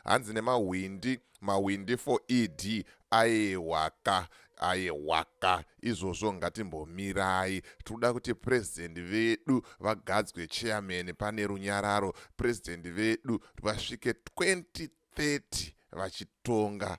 Hanzi nemahwindi mahwindi for ED ayewaka ayewaka izvozvo ngatimbomirai tikuda kuti president vedu vagadzwe chairman pane runyararo president vedu vasvike 2030 vachitonga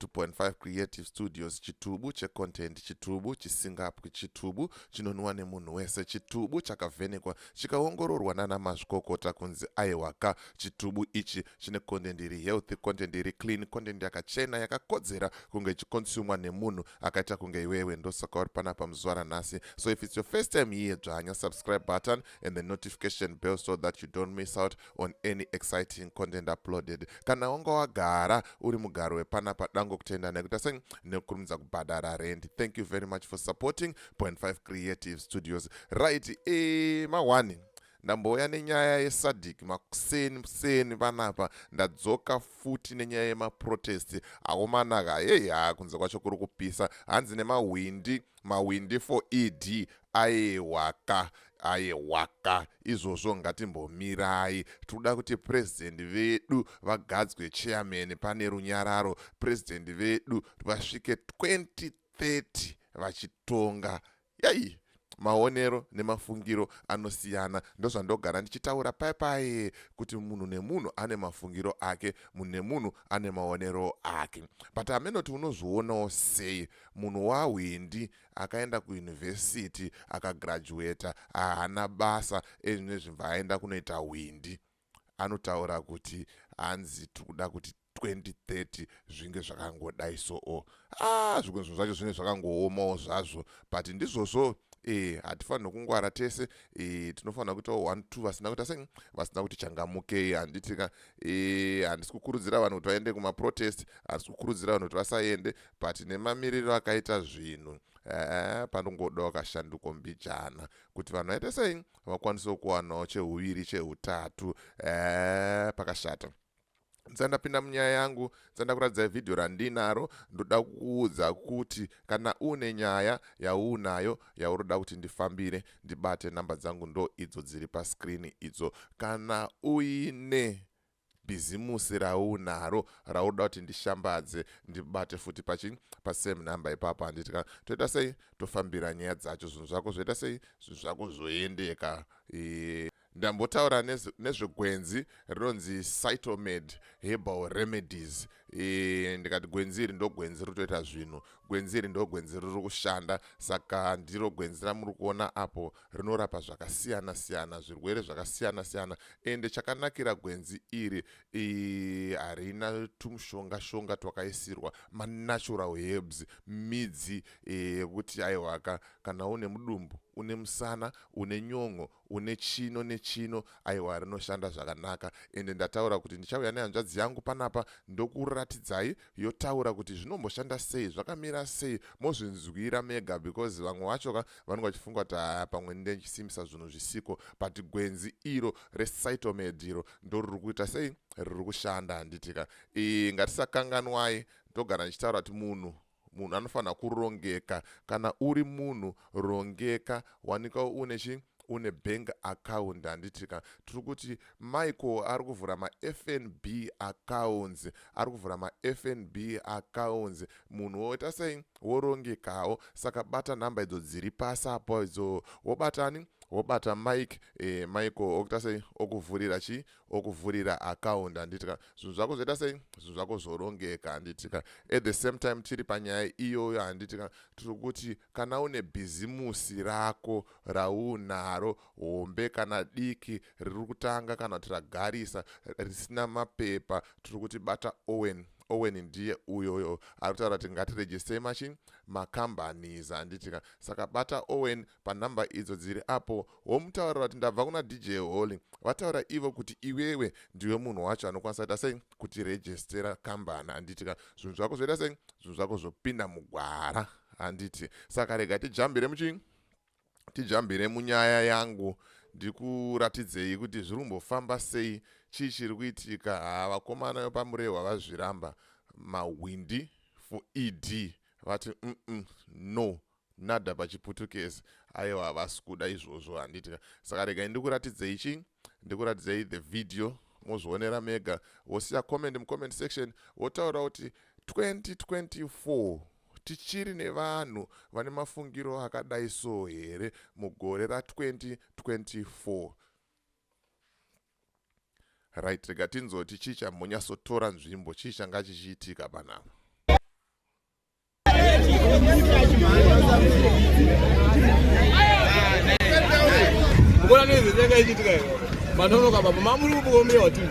2.5 creative studios chitubu checontent chitubu chisingapwi chitubu chinonwiwa nemunhu wese chitubu chakavhenekwa chikaongororwa nana mazvikokota kunzi aiwaka chitubu ichi chine content iri healthy content iri clean content yakachena yakakodzera kunge ichikonsumwa nemunhu akaita kunge iwewe ndosaka uri panapa muzuva ranhasi so if its your first time here dzvanya subscribe button and the notification bell so that you don't miss out on any exciting content uploaded kana wanga wagara uri mugaro wepana padango kutenda nekuita sei nekukurumidza kubhadhara rent thank you very much for supporting point 5 creative studios right e mawani ndambouya nenyaya yesadhiki makuseni museni panapa ndadzoka futi nenyaya yemaprotesti aomanaka heyi haa kunze kwacho kuri kupisa hanzi nemahwindi Mahwindi for ED ayewaka ayewaka izvozvo ngatimbomirai tikuda kuti president vedu vagadzwe chairman pane runyararo president vedu vasvike 2030 vachitonga yai maonero nemafungiro anosiyana ndozvandogara ndichitaura paye paye kuti munhu nemunhu ane mafungiro ake munhu nemunhu ane maonero ake but amenoti unozvionawo sei Munhu wahwindi akaenda kuuniversity akagraduater ahana basa ezvine zvimva aenda kunoita hwindi anotaura kuti hanzi tikuda kuti 2030 zvinge zvakangodai soo ah zvimwe zvinhu zvacho zvinenge zvakangoomawo zvazvo but ndizvozvo e hatifanirwe kungwara tese e tinofanira kuitawo one two vasina kuita sei vasina kuti changamukei handitika e handisi kukurudzira vanhu kuti vaende kumaprotest handisi kukurudzira vanhu kuti vasaende but nemamiriro akaita zvinhu ee panongodawo kashanduko mbijana kuti vanhu vaite sei vakwanisewo kuwanawo cheuviri cheutatu ee pakashata ndisati ndapinda munyaya yangu ndisati ndakuratidzai vhidhiyo randinaro ndoda kukuudza kuti kana uine nyaya yaunayo yauri kuda kuti ndifambire ndibate nhamba dzangu ndo idzo dziri paskrini idzo kana uine bhizimusi raunaro rauda kuti ndishambadze ndibate futi pachi pasame number ipapo handiti ka toita sei tofambira nyaya dzacho zvinhu zvako zvoita sei zvinhu zvako zvoendeka e ndambotaura nezvegwenzi rinonzi cytomed herbal remedies e, ndikati gwenzi iri ndogwenzi riri kutoita zvinhu gwenzi iri ndogwenzi riri kushanda saka ndiro gwenzi ramuri kuona apo rinorapa zvakasiyana siyana zvirwere zvakasiyana siyana ende chakanakira gwenzi iri harina tumushonga shonga twakaisirwa manatural herbs midzi yekuti e, aiwaka kana une mudumbu une musana une nyon'o une chino nechino aiwa rinoshanda zvakanaka ende ndataura kuti ndichauya nehanzvadzi yangu panapa ndokuratidzai yotaura kuti zvinomboshanda sei zvakamira sei mozvinzwira mega because vamwe vacho ka vanenge vachifunga kuti haya pamwe ndechisimbisa zvinhu zvisiko but gwenzi iro recytomed iro ndo riri kuita sei riri kushanda handiti ka e, ngatisakanganwai ndogara ndichitaura kuti munhu munhu anofanira kurongeka kana uri munhu rongeka wanika une chi une bank account handiti ka tiri kuti michael ari kuvhura mafnb accounts ari kuvhura mafnb accounts munhu woita sei worongekawo saka bata nhamba idzo dziri pasi apo idzo wobatani wobata mike e, michael okuita sei okuvhurira chii okuvhurira account handiti ka zvinhu zvako zvoita sei zvinhu zvako zvorongeka handiti ka at the same time tiri panyaya iyoyo handiti ka tiri kuti Kana une bhizimusi rako raunaro, hombe kana diki, riri kutanga kana kuti ragarisa, risina mapepa, tiri kuti bata Owen. Owen ndiye uyoyo ari kutaura kuti ngatirejistei machi macompanies handiti ka saka bata Owen panhamba idzo dziri apo womutaurira kuti ndabva kuna DJ Holy vataura ivo kuti iwewe ndiwe munhu wacho anokwanisa kuita sei kuti rejistera kambani handiti ka zvinhu zvako zvoita sei zvinhu zvako zvopinda mugwara handiti saka rega tijambire muchii tijambire munyaya yangu ndikuratidzei kuti zviri kumbofamba sei chii chiri kuitika haa vakomana vepamurehwa vazviramba mahwindi for ed vati mm -mm, no nada pachiputukezi aiwa havasi kuda izvozvo handitika saka regai ndikuratidzei chii ndikuratidzei the video mozvionera mega wosiya comment mucomment section wotaura kuti 2024 Tichiri nevanhu vane mafungiro akadai so here mugore ra 2024? Right, rega tinzoti chii chambonyatsotora nzvimbo, chii changa chichiitika panapa? Mbona nezvezvanga ichiitika iyo? Manonoka baba, mamuri kubukombira wa TV.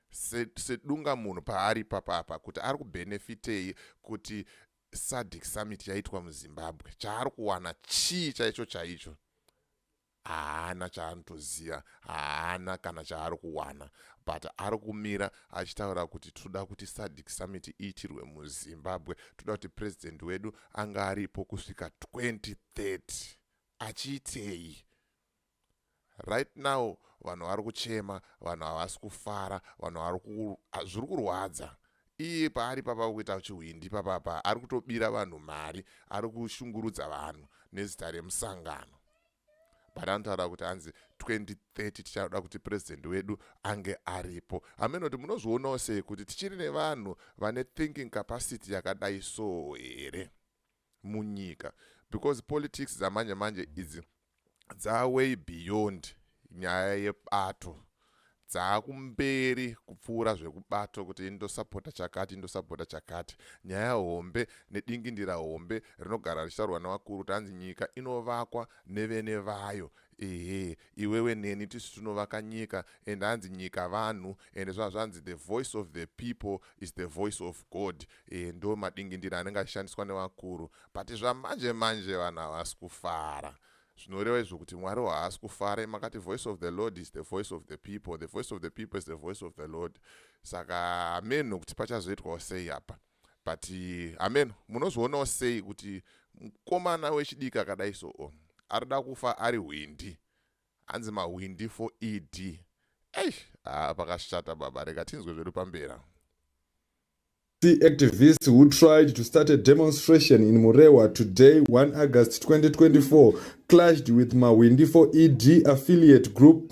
sedunga munhu paari ipapa apa kuti ari kubenefitei kuti sadic summit yaitwa muzimbabwe chaari kuwana chii chaicho chaicho haana chaanotoziva haana kana chaari kuwana but ari kumira achitaura kuti tinoda kuti sadic summit iitirwe muzimbabwe tinoda kuti president wedu anga aripo kusvika 2030 achiitei Right now vanhu vari kuchema, vanhu havasi kufara, vanhu vari ku ah, zviri kurwadza. Iye paari papa kuita chihwindi papapa ari kutobira vanhu mari, ari kushungurudza vanhu nezita remusangano. But anotaura kuti hanzi 2030 tichada kuti president wedu ange aripo. Hameno kuti munozvionawo sei kuti tichiri nevanhu vane thinking capacity yakadai so here? munyika because politics dzamanje manje idzi dzaway beyond nyaya yebato dzaakumberi kupfuura zvekubato kuti indosapota chakati indosapota chakati nyaya hombe nedingindira hombe rinogara richitaurwa nevakuru kuti hanzi nyika inovakwa nevene vayo ehe Iwewe neni tisu tinovaka nyika and hanzi nyika vanhu and zvazvanzi the voice of the people is the voice of God e, ndo madingindira anenge achishandiswa nevakuru but zvamanje manje vanhu havasi kufara zvinoreva izvo kuti mwari haasi kufara makati voice of the lord is the voice of the people the voice of the people is the voice of the lord saka hameno kuti pachazoitwawo sei apa but hameno munozvionawo sei kuti mukomana wechidiki akadai so oh, ari da kufa ari hwindi hanzi mahwindi for ed ei haa pakashata baba reka tinzwe zvedu pambera activists who tried to start a demonstration in Murewa today, 1 August 2024, clashed with Mawindi for ED affiliate group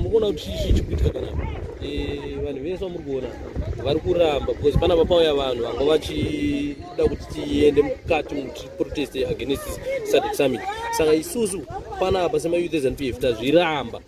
mukuona kuti chii chikuitika kana eh, vanhu vese vamuri kuona vari kuramba because pana vapauya vanhu vanga vachida kuti tiende mukati muprotest against sadc summit saka isusu panapa semayouth eznpf tazviramba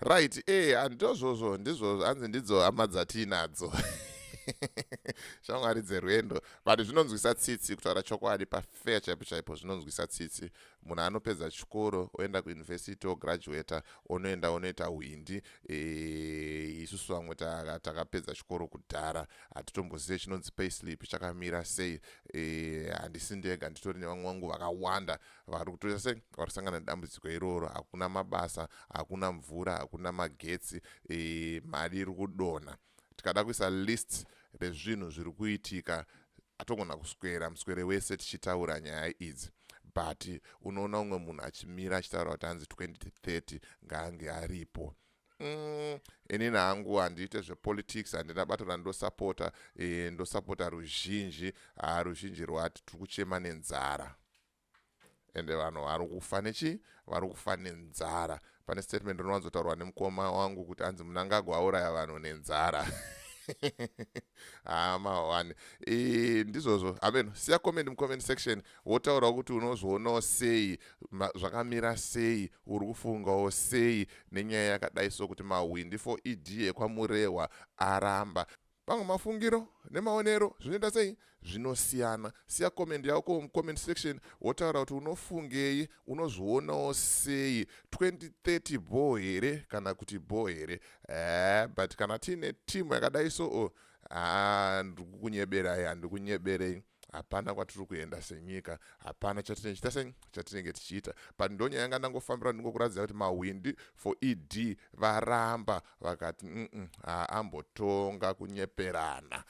Right, eh, handizvozvo ndizvozvo hanzi ndidzo hama dzatiinadzo shamwari dzerwendo but zvinonzwisa tsitsi kutaura chokwadi pafair chaipo chaipo zvinonzwisa tsitsi munhu anopedza chikoro oenda kuuniversity ograduata onoenda onoita hwindi eh, isusu vamwe takapedza chikoro kudhara hatitombozive chinonzi payslip chakamira sei eh, handisi ndega nditori nevamwe vangu vakawanda e, vari kutoita se vari sangana nedambudziko iroro hakuna mabasa hakuna mvura hakuna magetsi e, mari iri kudonha tikada kuisa list rezvinhu zviri kuitika atogona kuswera muswere wese tichitaura nyaya idzi but unoona umwe munhu achimira achitaura kuti hanzi 2030 ngaange aripo Umm inini hangu handiite zvepolitics handina bato randosapota e, ndosapota ruzhinji haa ruzhinji rwati tiri kuchema nenzara ende vanhu vari kufa nechii vari kufa nenzara pane statement rinowanzotaurwa nemukoma wangu kuti anzi munangagwa auraya vanhu nenzara haa ah, mahwani ndizvozvo hameno siya comment mucomment section wotaura kuti unozvionawo sei zvakamira sei uri kufungawo sei nenyaya yakadai so kuti mahwindi for ed ekwamurehwa aramba pamwe mafungiro nemaonero zvinoita sei zvinosiyana siya comment yako mucomment section wotaura kuti unofungei unozvionawo sei 2030 bho here kana kuti bho here eh, but kana tiine timu yakadai so o oh, ah, ndikukunyeberai handikunyebere hapana kwatiri kuenda senyika hapana chatinenge chita sei chatinenge tichiita but ndonyaya yanga ndangofambira ndingokuratidza kuti mahwindi for ed varamba vakati mm haambotonga kunyeperana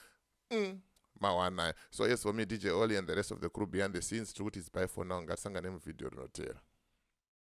mm mawanaya so yes for me dj oli and the rest of the crew behind the scenes tiri kuti its by for now ngatisangane muvhidhiyo rinotera